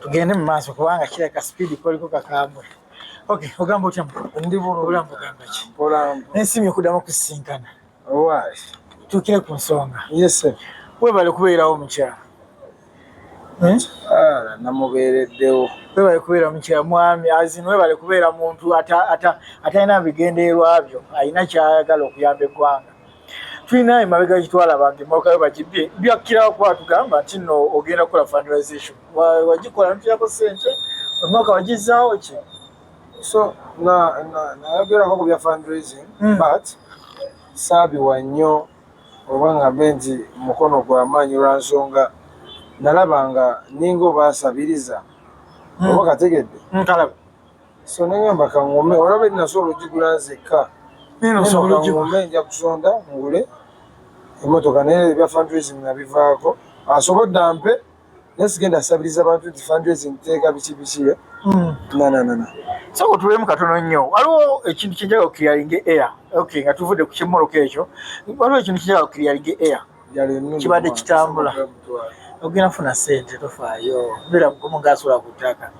tugende mu maaso kubanga kireka sipiidi koliko kakambwe okay ogamba otya ndi bulungi naye simye okuddamu okusisinkana Owaasi, tukire ku nsonga. Yes, sir. Webale kubeerawo mukyala. Hmm? Ah, namubeereddewo. Webale kubeera mukyala mwami azin webale kubeera muntu atalina bigendererwa byo alina kyayagala okuyamba eggwanga. Tulina emabega gitwala bange emmotoka yo bagibbye byakkirawo kuba tugamba nti no ogenda kukola fundraisation wagikola notuyako ssente omwaka wagizzaawo ki? so na nayogerako ku bya fundraising mm. but saabiwa nnyo oba ngambe nti mukono gwa maanyi lwa nsonga nalaba nga ninga oba asabiriza mm. oba kategedde mm, kalaba so nengamba kangume olaba enasa olugigula nzekka kangume nja kusonda ngule emotoka naye ebya fundraising nabivaako asobodde ampe naye sigenda asabiriza bantu nti fundraising teeka biki biki eh? hmm. nananana so kutulemu katono nnyo waliwo ekintu kyenjaga okukiriyalinga air okay nga tuvudde ku kimmoloka ekyo waliwo ekintu kyenjaga okukiriyalinga air kibadde kitambula ogenda funa sente tofaayo beera mugomu ngaasula ku ttaka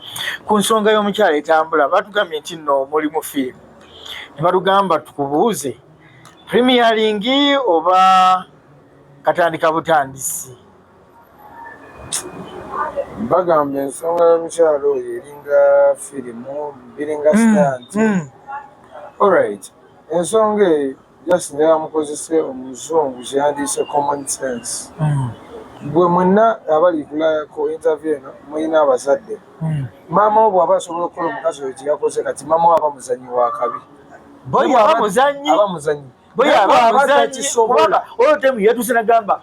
ku nsonga y'omukyalo etambula batugambye nti nno mulimu fiimu ne batugamba tukubuuze premiyalingi oba katandika butandisi bagamba ensonga y'omukyalo oyo eringa firimu biringa hmm, sitanti hmm. olrit ensonga eyo just nebamukozese omuzungu kyeyandiise common sense hmm. gwe mwenna abali kulayako intervie eno mulina abazadde maama wo bwaba asobola okukola omukazi oyo kyeyakoze kati maama wo aba muzanyi wakabi boyaba muzanyi boyaba muzanyi kubanga oyo temu yatuse nagamba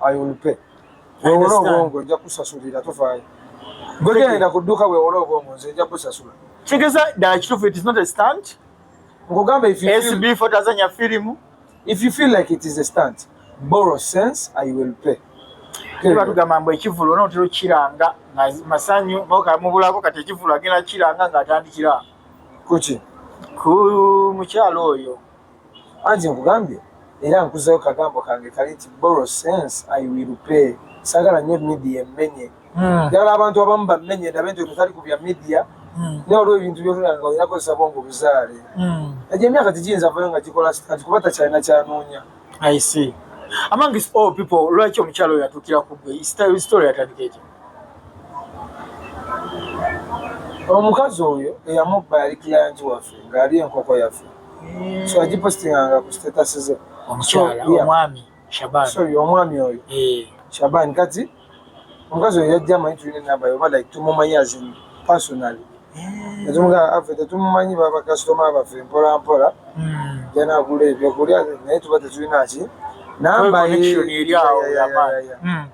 I will pay. Wewola obwongo nja kusasulira tofaayo. Gwe genda ku dduuka wewola obwongo nze nja kusasula. Kigeza ddala kituufu it is not a stunt. Nkugamba if you feel... SB for Tanzania film. If you feel like it is a stunt, borrow sense, I will pay. Kiba tugamba mbu ekivulu onootera okukiranga masanyu mubulako kati ekivulu agenda kukiranga ng'atandikira. Kuki? Ku mukyalo oyo. Anti nkugambye era nkuzeyo kagambo kange kali nti borrow sense I will pay sagala nyo media emmenye hmm. njagala mm. abantu abamu bammenye ndabe nti otutali kubya media mm. naye olwo ebintu byotulanga nga olina kozesa bwongo obuzaale mm. egyo emyaka tegiyinza vayo nga gikola kati kuba takyalina kyanoonya I see among is all people lwaki omukyalo oyo atukira ku gwe story yatandika ekyo omukazi oyo eyamubba yali kiyanji waffe ng'ali enkoko yaffe so agipostinganga ku status ze omukyala omwami shaban sorry omwami oyo eh. shaban kati omukazi oyo yajja amanyi tulina enamba yoba like tumumanyi azin personally eh. netumugamba affe tetumumanyi babakasitoma baffe mpolampola hmm. janagula ebyokulya naye tuba tetulina ki namba ye hmm.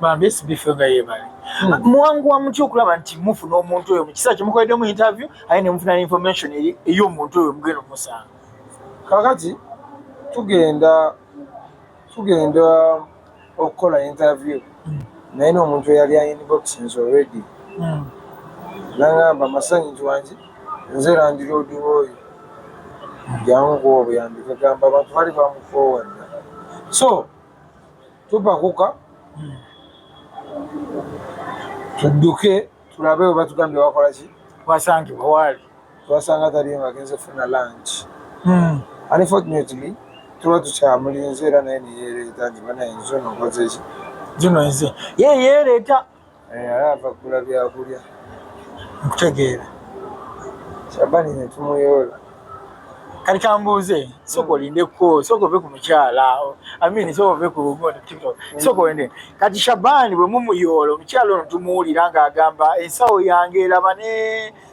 bambesibife nga yebale hmm. mwanguwa mutya okulaba nti mufuna omuntu oyo mu kiseera kyemukoleddemu interview aye ne mufuna information ey'omuntu oyo mugenda omusanga kakati tugenda tugenda okukola interview hmm. naye n'omuntu eyali ainboxins already hmm. nangamba masanyi nti wangi nze landiroodi oyo jangu kuba obuyambi kagamba abantu bali bamukoowadda so tupakuka hmm. tudduke tulabe oba tugambye wakola ki wasangibwa waali twasanga taliyo nga agenze funa lanki hmm. unfortunately tuba tukyamulinze era naye neyereeta nti banaye nzo nokozeki zino nze ye yereeta Eh, ala ava kugula byakulya nkutegeera shabani netumuyoola kati kambuuze sooka olindeko sooka ove ku mukyala amin sooka ove ku tiktok sooka olinde kati shabani bwe mumuyoola omukyala ono tumuwulira ng'agamba ensawo yange eraba ne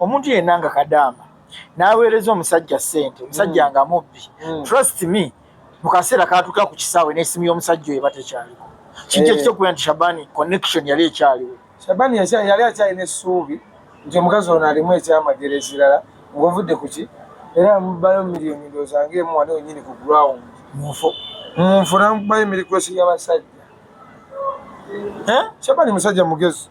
omuntu yenna nga kadaama n'aweereza omusajja ssente omusajja mm. nga mubbi mm. trust me mu kaseera katuuka ku kisaawe n'esimu y'omusajja oyo eba tekyaliko kintu eh. ekitokubera nti shabani connection yali ekyaliwo shabani yali akyalina essuubi nti omukazi ono alimu ekyamagero ekirala ngaovudde ku ki era mubayo miliyoni ndooza ngaemu wali wenyini ku ground munfu munfu namubayo emirikwesi y'abasajja eh? shabani musajja mugezi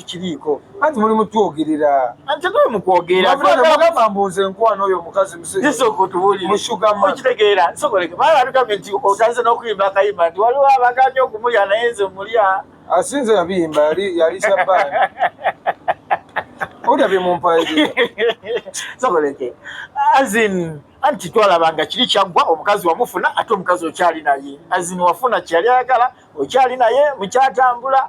tukiriiko anti muli mutwogerera antetuli mukwogeragamba mbuuza enkwano oyo omukazi musugamaokitegeera soboleke bala atugambye nti otandise n'okuyimba akayimba nti waliwo abaganya okumulya naye nze mulya asinze yabiyimba yali yali sabaani olya byemumpaeera soboleke azin anti twalaba nga kiri kyaggwa omukazi wamufuna ate omukazi okyali naye azin wafuna kyeyali ayagala okyali naye mukyatambula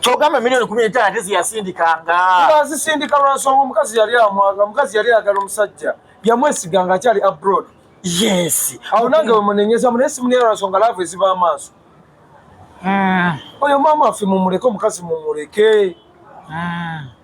kyogamba milioni kumi n'etaano ate ziyasindikanga azisindika lwansonga omukazi yali amwaga omukazi yali ayagala omusajja yamwesiga nga akyali abroad yes awo nange wemunenyeza mu naye simuneya lwansonga laavu eziba amaaso hmm. oyo maama affe mumuleke omukazi mumuleke hmm.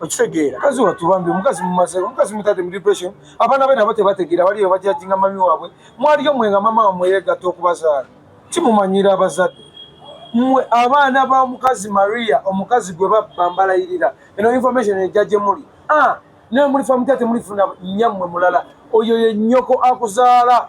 okitegeera kazi watu bambi omukazi mumaze omukazi mutadde mu depression abaana be nabo tebategeera baliyo bajajinga mami waabwe mwaliyo mwe nga mama wamwe yegatta okubazaala kimumanyira abazadde mwe abaana ba mukazi maria omukazi gwe babba mbalayirira eno information ejja gye muli ah, naye mulifa mutate mulifuna nyammwe mulala oyo ye nnyoko akuzaala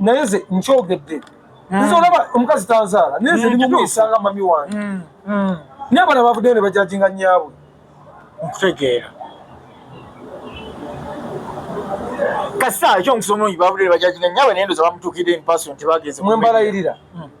naye ze nkyogedde hmm. nze olaba omukazi tanzaala naye ze nimumuyisanga hmm, mami wange hmm, naye abana bavuddeyo ne bajajinga nyaabwe nkutegeera kasita ekyo omusomo nyi bavuddeyo ne bajajinga nyaabwe naye ndoza bamutuukidde empasoni tebagenze mwembalayirira mm.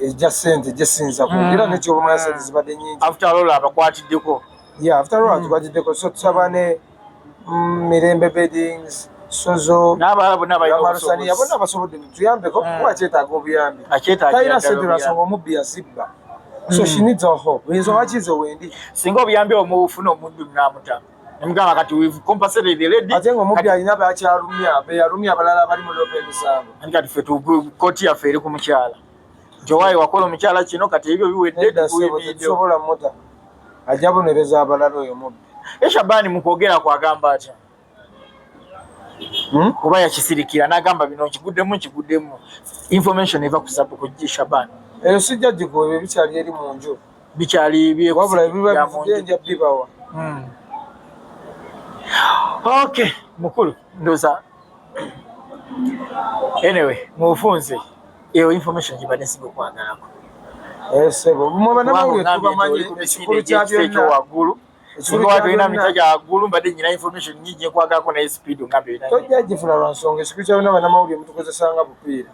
ejja sente jesinza ku era ne kyo mwana sente zibadde nyingi after all abakwatiddeko yeah after all abakwatiddeko so tusaba ne mm, mirembe beddings sozo n'abalala bonna balina obusobozi bonna basobodde tuyambeko kuba kyetaaga obuyambi talina sente lwasonga omubbi yazibba so she needs our hope oyinza wakize wendi singa obuyambi omufuna omuddu namuta Mugala kati we've compensated the lady. Ate ngo mubya alina bakyalumya, be yalumya abalala bali mu lobe emisango. Ani kati fe tu koti ya fere ku mukyala. Jowaye wakola omukyala kino kati ebyo biwedde tusobola muta. Ajja bonereza abalala oyo mubbi. Esha bani mukogera kwa gamba atya. Hmm? Kuba ya kisirikira nagamba bino kiguddemu kiguddemu. Information eva ku sabu ku Shabani. Eyo sijja jiko ebikyali eri mu nju. bikyali wabula biba bivudde nja bibawa hmm. ok mukulu ndoza anyway mubufunze eyo information gibadde nsiga okwagalako eh, sebo mubanamawulire tubamanyi ekikulu kya byonna waggulu singa watulina mita gya waggulu mbadde nyina information nyingi gyekwagako naye speed nga byona tojja gifuna lwa nsonga ekikulu kya byonna banamawulire mutukozesanga bupiira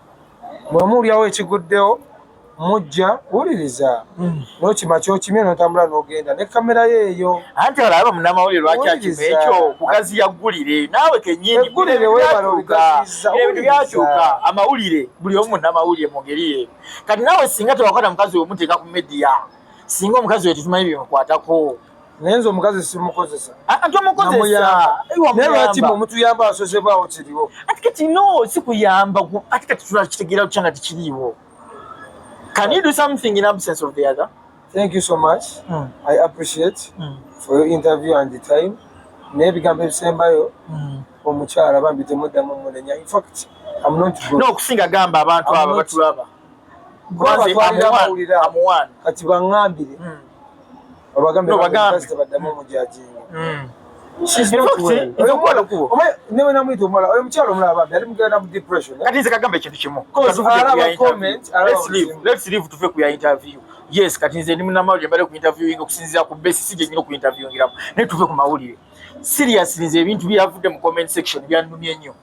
mwemuwulyawo ekiguddewo mujja wuliriza mm. nokima kyokimye notambula nogenda ne kamera yeeyo anti olaba munamawulire lwaki akima ekyo kugaziya ggulire naawe kenyini ggulire webala obigaziza ebintu byakyuka amawulire buli omu munamawulire mu ngeri ye kati naawe singa tewakwata mukazi wemuteeka ku media singa omukazi wetetumanyi byemukwatako naye nze omukazi simukozesa ah, ah, naye lwaki mwe mutuyamba asozebwawo kiriwo ati kati no sikuyamba ati kati tulakitegeera kutya nga tikiriiwo can you do something in absence of the other thank you so much mm. i appreciate mm. for your interview and the time naye ebigambo ebisembayo mm. omukyala bambi temuddamu munenya infact no okusinga gamba abantu abo batulaba kati bangambire hmm. newenamwita omuwala oyo mukyalo omulaba bambi ali mugenda mu depression kati nze kagamba ekintu kimu tuve ku ya interview yes kati nze ndi munamawulire mbadde ku interviewing okusinzira ku besi si gyenyina oku interviewingiramu naye tuve ku mawulire seriously nze ebintu byeyavudde mu comment section byanumye nnyo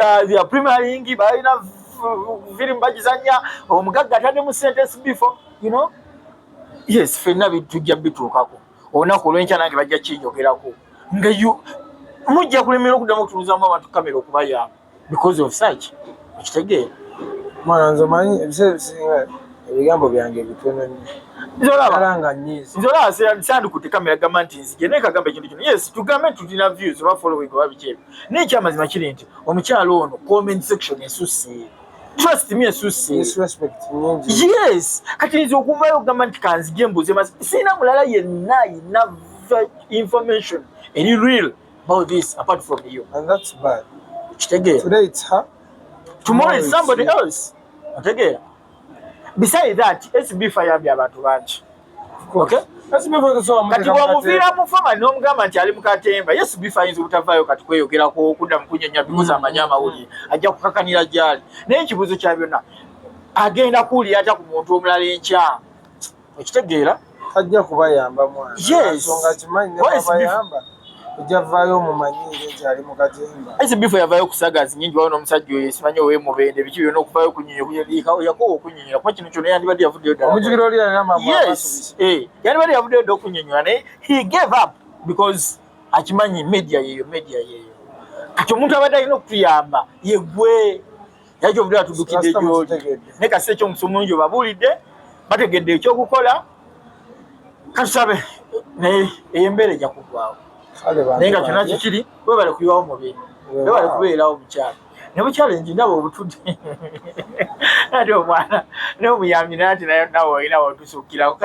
ya, ya premier yingi balina firimu bagizanya omugagga atadde mu sentence before you know yes fenna tujja bituukako olunaku olwenkya nange bajja kinyogerako nga mujja kulemera okuddamu okutunuzamu abantu kamera okubayamba because of such okitegeera mwana nze manyi ebiseera ebisinga ebigambo byange bitono nnyonzolaba sandikutte kamera gamba nti nzije naye kagamba ekintu kino yes tugambe nti tulina views oba following oba bikyebyo naye ekyamazima kiri nti omukyalo ono comment section esusse trust me esusse yes kati nze okuvayo okugamba nti kanzija embuuzi emazi sirina mulala yenna yina information eri real about this apart from you and that's bad kitegeera today it's her tomorrow is somebody else otegeera besides that sb fayambye abantu bangi okay kati bwomuviira mu famali nomugamba nti ali mukatemba yesu bifa ayinza obutavaayo kati kweyogerako okudda mukunyonya bikozi mm. amanyi amawulire ajja kukakanira gyali naye ekibuuzo kya byonna agenda kuwulira atya ku muntu omulala enkya okitegeera ajja kubayamba mwana yes. Ejavaayo mumanyiire nti ali mu katemba. Ese bifo yavayo kusaga zinyingi wabona omusajja oyo simanyi owe mubende biki byona okuvayo kunyonyo kuyelika yakowa okunyonyola kuba kino kyona yandibadde yavuddeyo ddala omujukira oli yalina mamu yes eh yandibadde yavuddeyo dda okunyonyola naye he gave up because akimanyi media yeyo media yeyo kati omuntu abadde alina okutuyamba yegwe naye kyovudde batudukidde gyoli naye kasi ekyomusa omulungi obabuulidde bategedde ekyokukola katusabe naye eyo embeera eja kugwawo naye nga kyona kikiri webale kuyiwawo mubiri webale kubeerawo mukyalo nebuchallenge ndaba obutudde ati omwana nomuyambi nati nayo nawe olina wotusukirako